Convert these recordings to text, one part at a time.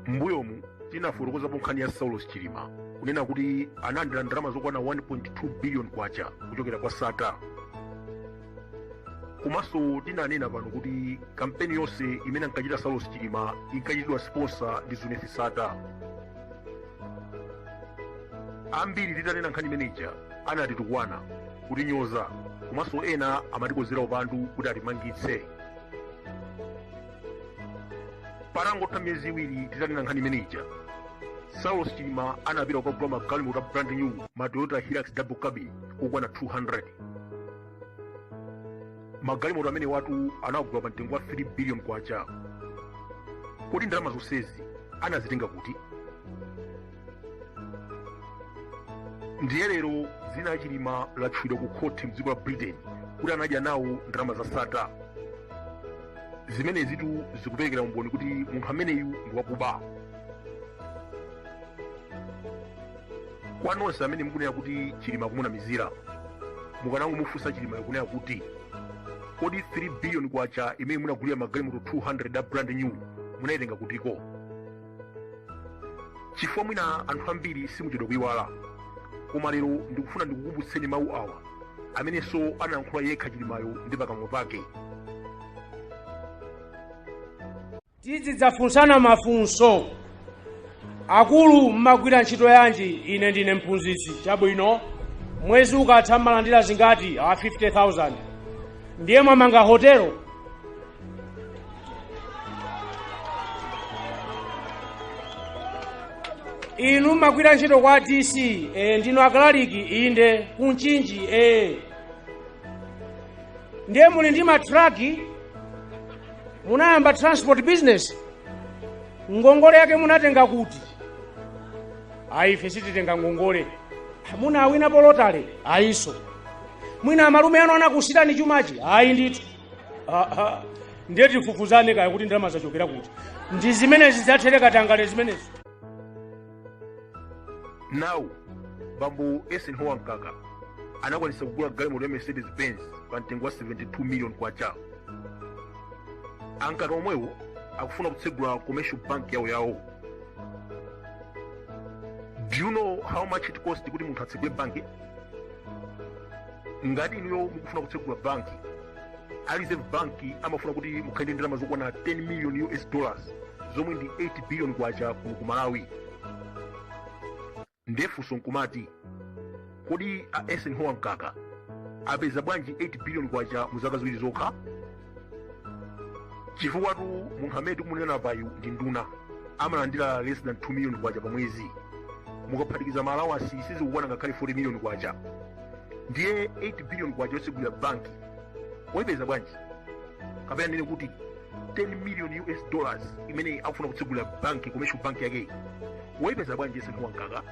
mbuyomu tinafotokozapo nkhani ya saulos chilima kunena kuti analandira ndalama zokwana 1.2 billion kwacha kuchokera kwa sattar komanso tinanena pano kuti kampeni yonse imene ankachita saulos chilima inkachitidwa sponsor ndi zuneth sattar ambiri titanena nkhani imeneja anatitukwana kutinyoza komanso ena amatikozera upandu kuti atimangitse patangotha miyezi iwiri titanena nkhani imeneja saulos chilima anapita kukagula magalimoto a brand new ma toyota hilux double cabin okwana 200 magalimoto amenewatu anagula pa mtengo wa 3 billion kwacha kodi ndalama zonsezi anazitenga kuti ndiye lero dzina la chilima latchulidwa ku khoti mdziko la britain kuti anadya nawo ndalama za sattar zimenezitu zikuperekera umboni kuti munthu ameneyu ndi wakuba kwa nonse amene mukunena kuti chilima kumunamizira mukanangomufunsa chilimayo kunena kuti kodi 3 billion kwacha imene munagulira magalimoto 200 a brand new munaitenga kutiko chifukwa mwina anthu ambiri simuchedwa kuyiwala koma lero ndikufuna ndikukumbutseni mawu awa amenenso anayankhula yekha chilimayo ndi pakamwa pake tizidzafunsana mafunso akulu mmagwira ntchito yanji ine ndine mphunzitsi chabwino mwezi ukatha mmalandira zingati a 50000 ndiye mwamanga hotelo inu mmagwira ntchito kwa dc e, ndinu akalaliki inde kunchinji e. ndiye muli ndi matraki munayamba transport business ngongole yake munatenga kuti ayi ife sititenga ngongole munawina pa lotale ayinso mwina amalume anu anakusiyirani chumachi ayi ndithu Ah, ah. ndiye tifufuzane kaya kuti ndalama zachokera kuti ndi zimenezi za katangale zimenezi now bambo eisenhower mkaka anakwanisa kugula galimoto ya mercedes benz pa mtengo wa 72 million kwacha a mkaka omwewo akufuna kutsegula commercial bank yawo yawo do you know how much it costs kuti munthu atsegule banki ngati inuyo mukufuna kutsegula banki a reserve banki amafuna kuti mukhale ndi ndalama zokwana 10 million us dollars zomwe ndi 8 billion kwacha kuno ku malawi nde funso nkumati kodi a eisenhower mkaka apeza bwanji 8 billion kwacha mu zaka ziwiri zokha chifukwatu munthu amene tikumunenapayu ndi nduna amalandira less than 2 million kwacha pa mwezi mukaphatikiza ma allowance sizikukwana ngakhale 40 million kwacha ndiye 8 billion kwacha yotsegulira banki wayipeza bwanji kapena nene kuti 10 million us dollars imene akufuna kutsegulira banki commercial bank yake wayipeza bwanji eisenhower mkaka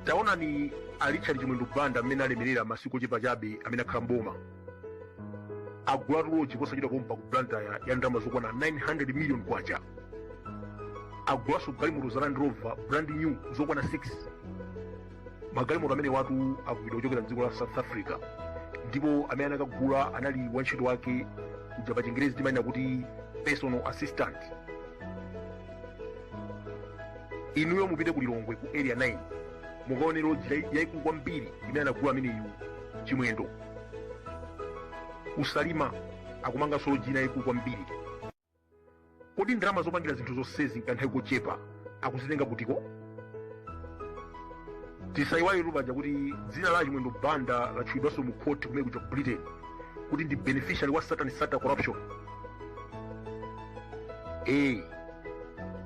taonani a richard chimwendo banda mmene alemerera masiku ochepa chabe amene akhala mboma agulatu loji posachedwa pompa ku blantyre ya ndalama zokwana 900 million kwacha agulanso galimoto za land rover brand new zokwana 6 magalimoto amenewatu agulidwa kuchokera mdziko la south africa ndipo amene anakagula anali wantchito wake kuja pa chingerezi timanena kuti personal assistant inuyo mupite ku lilongwe ku area 9 mukaone lodge yaikulu kwambiri imene anagula ameneyu chimwendo ku salima akumanganso lodge ina yaikulu kwambiri kodi ndalama zopangira zinthu zonsezi mkanthawi kochepa akuzitenga kutiko tisayiwaletu paja kuti dzina la chimwendo banda latchulidwanso mu khoti kumene kuja ku britain kuti ndi beneficiary wa satan sattar corruption ee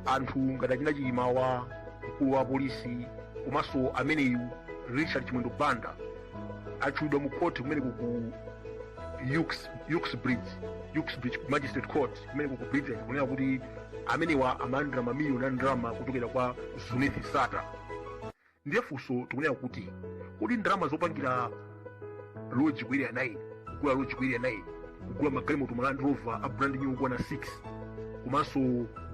anthu ngati achina chilimawa mkulu wa polisi komanso ameneyu richard chimwendo banda atchulidwa mu khoti kumeneko ku ux- uxbridge magistrate court kumeneko ku britain kunena kuti amenewa amalandira mamiliyoni a ndalama kuchokera kwa zuneth sattar ndiye funso tikunena kuti kodi ndalama zopangira loji ku area 9 kugula loji ku area 9 kugula magalimoto ma land rover a brand new okwana 6 komanso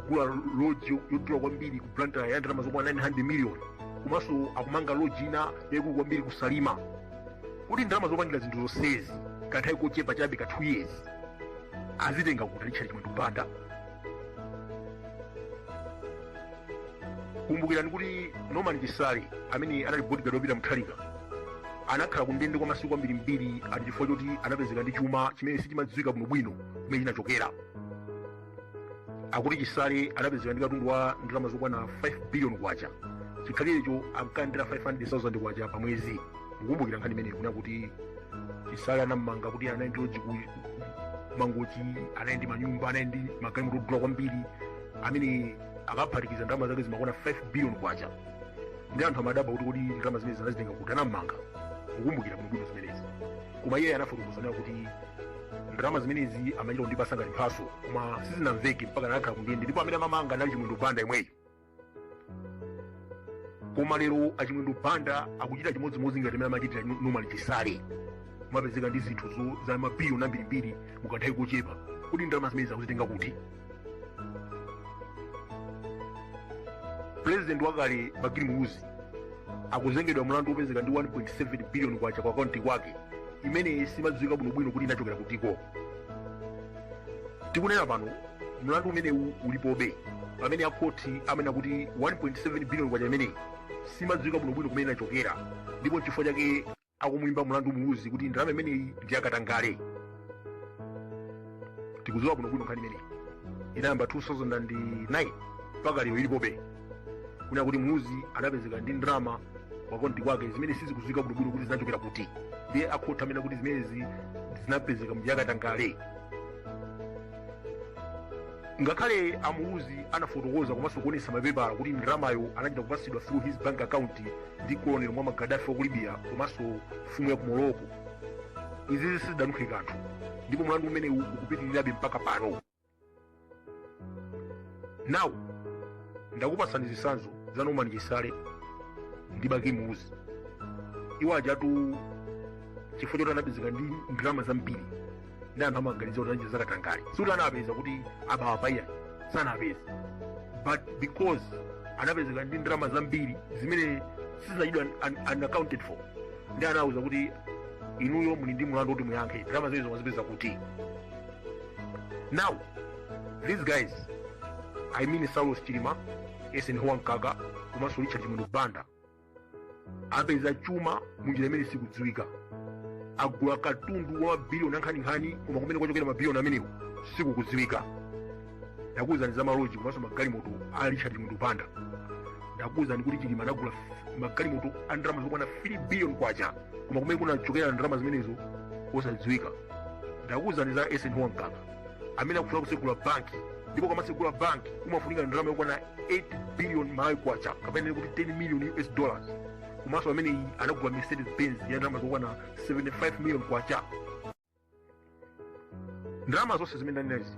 kugula loji yodula kwambiri ku blantyre ya ndalama zokwana 900 million komanso akumanga loji ina yaikulu kwambiri ku salima kodi ndalama zopangira zinthu zonsezi kanthawi kochepa chabe ka 2 years azitenga kuti richard chimwendo banda kumbukirani kuti norman chisale amene anali bodigadi wa peter mutharika anakhala ku ndende kwa masiku ambirimbiri ati chifukwa choti anapezeka ndi chuma chimene sichimadziwika bwinobwino kumene chinachokera akuti chisale anapezeka ndi katundu wa ndalama zokwana 5 billion kwacha chikhalirecho ankalandira 500,000 kwacha pa mwezi mukumbukira nkhani imeneyo kunena kuti chisale anammanga kuti anali ndi loji ku mangochi anali ndi manyumba anali ndi magalimoto odula kwambiri amene akaphatikiza ndalama zake zimakwana 5 billion kwacha ndi anthu amadabwa kuti kodi ndalama zimenezi anazitenga kuti anammanga mukumbukira bwinobwino zimenezi koma iye anafotokoza kunena kuti ndalama zimenezi amachita kundipasa ngati mphaso koma sizinamveke mpaka anakhala kundende ndipo amene amammanga anali chimwendo banda yemweyo koma lero achimwendo banda akuchita chimodzimodzi ngati mmene amachitira norman chisale kumapezeka ndi zinthu zo- za mabiliyoni ambirimbiri mukanthawi kochepa kodi ndalama zimenezi akuzitenga kuti pulezidenti wakale bakili muluzi akuzengedwa mlandu wopezeka ndi 1.7 biliyoni kwacha kwa akaunti kwake imene simadziwika bwinobwino kuti inachokera kutiko tikunena pano mlandu umenewu ulipobe pamene akhoti amanena kuti 1.7 billion kwacha imeneyi simadziwika bwinobwino kumene inachokera ndipo n'chifukwa chake akumuyimba mlandu muluzi kuti ndalama imeneyi ndi yakatangale tikudziwa bwinobwino nkhani imeneyi inayamba 2009 mpaka lero ilipobe kunena kuti muluzi anapezeka ndi ndalama kwa akaunti kwake zimene sizikudziwika bwinobwino kuti zinachokera kuti ndiye akhoti amanena kuti zimenezi zinapezeka munjira yakatangale ngakhale amuluzi anafotokoza komanso kuonesa mapepala kuti ndalamayo anachita kupatsidwa through his bank account ndi colonel muammar gaddafi wa ku libya komanso mfumu ya ku morocco izi sizidanunkhe kanthu ndipo mlandu umenewu ukupitirirabe mpaka pano now ndakupatsani zitsanzo za norman chisale ndi bakili muluzi iwo ajatu chifukwa choti anapezeka ndi ndalama zambiri ndi anthu amaganiza kuti anachita zakatangale sikuti anapeza kuti aba apa iyayi sanapeza but because anapezeka ndi ndalama zambiri zimene sizinachitidwe un- un- unaccounted for ndi anawawuza kuti inuyo muli ndi mlandu woti muyankhe ndalama zimenezo mwazipeza kuti Now, these guys, I mean Saulos Chilima, Eisenhower Mkaka, komanso Richard Chimwendo Banda, apeza chuma munjira imene sikudziwika. Agula katundu wa mabiliyoni ankhaninkhani koma kumene kwachokera mabiliyoni amenewo sikukudziwika. Ndakuwuzani za maloji komanso magalimoto a Richard Chimwendo Banda. Ndakuwuzani kuti Chilima anagula f- magalimoto a ndalama zokwana 3 billion kwacha koma kumene kunachokera ndalama zimenezo osadziwika. ndakuwuzani za eisenhower mkaka amene akufuna kutsegula banki ndipo ukamatsegula banki kumafunika ndalama yokwana 8 billion malawi kwacha kapena kuti 10 million us dollars komanso amene anagula mercedes benz ya ndalama zokwana 75 million kwacha ndalama zonse zimene ndinanenazi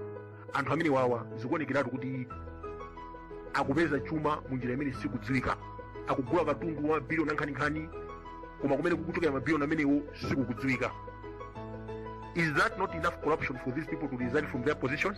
anthu amene wawa zikuonekeratu kuti akupeza chuma mu njira imene sikudziwika akugula katundu wa mabiliyoni ankhaninkhani koma kumene kukuchokera mabiliyoni amenewo sikukudziwika is that not enough corruption for these people to resign from their positions